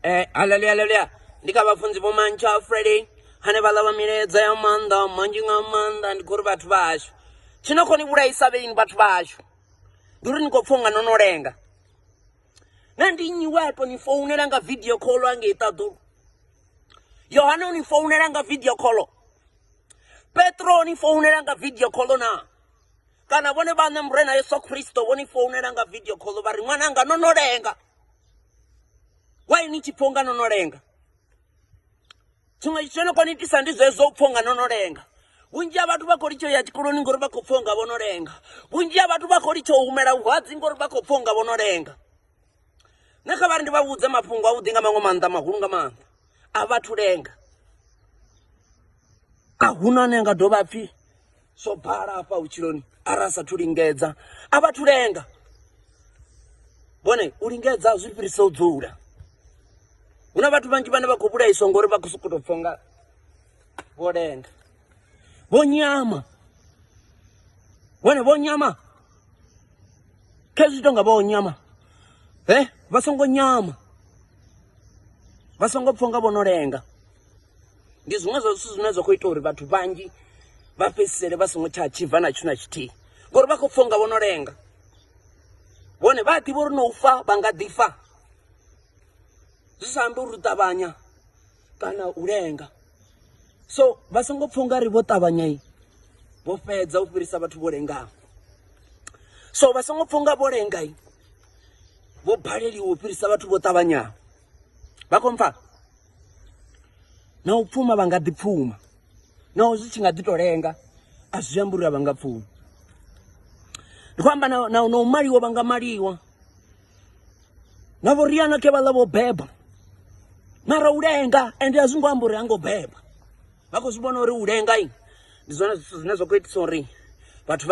Eh, haleluya haleluya ndi kha vhafunzi vho mantsha friday hane vha ḽa milaedza ya maanḓa manzhi nga maanḓa ndi khou ri vhathu vha hashu tshi no khou ni vhulaisa vheini vhathu vha hashu ndi uri ni khou pfha unga no no lenga na ndi nnyi we a tou ni founela nga video call angei ṱaḓulu yohane u ni founela nga video call petro o ni founela nga video call na kana vhone vhaṋe murena yesu kristo vho ni founela nga video call vha ri ṅwananga no no lenga why ni tshi pfha unga no no lenga tshiṅwe tshithu tsho no kona itisa ndi zwezwo u pfha unga no no lenga vhunzhi ha vhathu vha khou litsho ya tshikoloni ngori vha khou pfha unga vho no lenga vhunzhi ha vhathu vha khou litsho u humela vhuhadzi ngori vha khou pfha unga vho no lenga nṋe kha vha ri ndi vha vhudze mafhungo avhuḓi nga maṅwe maanḓa mahulu nga maanḓa a vhathu lenga a huna ane nga dovha pfhi zwo bala hafha vhutshiloni arali sathu lingedza a vhathu lenga vhone u lingedza zwi fhirisa u dzula hu na vhathu vhanzhi vhane vha khou vhulaiswa ngori vha khou sokou tou pfhonga vho lenga vho nyama vhone vho nyama khezwi tonga vha o nyama he vha songo nyama vha songo pfha nga vho no lenga ndi zwiṅwe zwa zwithu zwine zwa khou ita uri vhathu vhanzhi vha fhedzisele vha songo tsha tshibva na tshithu na tshithihi ngori vha khou pfha nga vho no lenga vhone vha a ḓivha uri no u fa vha nga ḓi fa zwi sa ambi uri u ṱavhanya kana u lenga so vha songo pfha ungari vho ṱavhanya i vho fhedza u fhirisa vhathu vho lengaho so vha songo pfha unga vho lenga i vho baleliwa u fhirisa vhathu vho ṱavhanyaho vha khou mpfha na u pfuma vha nga ḓi pfuma naho zwi tshi nga ḓi to lenga a zwi ambi uri a vha nga pfumi ndi khou amba na na u maliwa vha nga maliwa na vhoriana ke vhaḽa vho beba mara u lenga ende a zwi ngo amba uri ha ngo beba vha khou zwi vhona uri u lenga ndi zwone zwithu zwine zwa khou itisa uri vhathu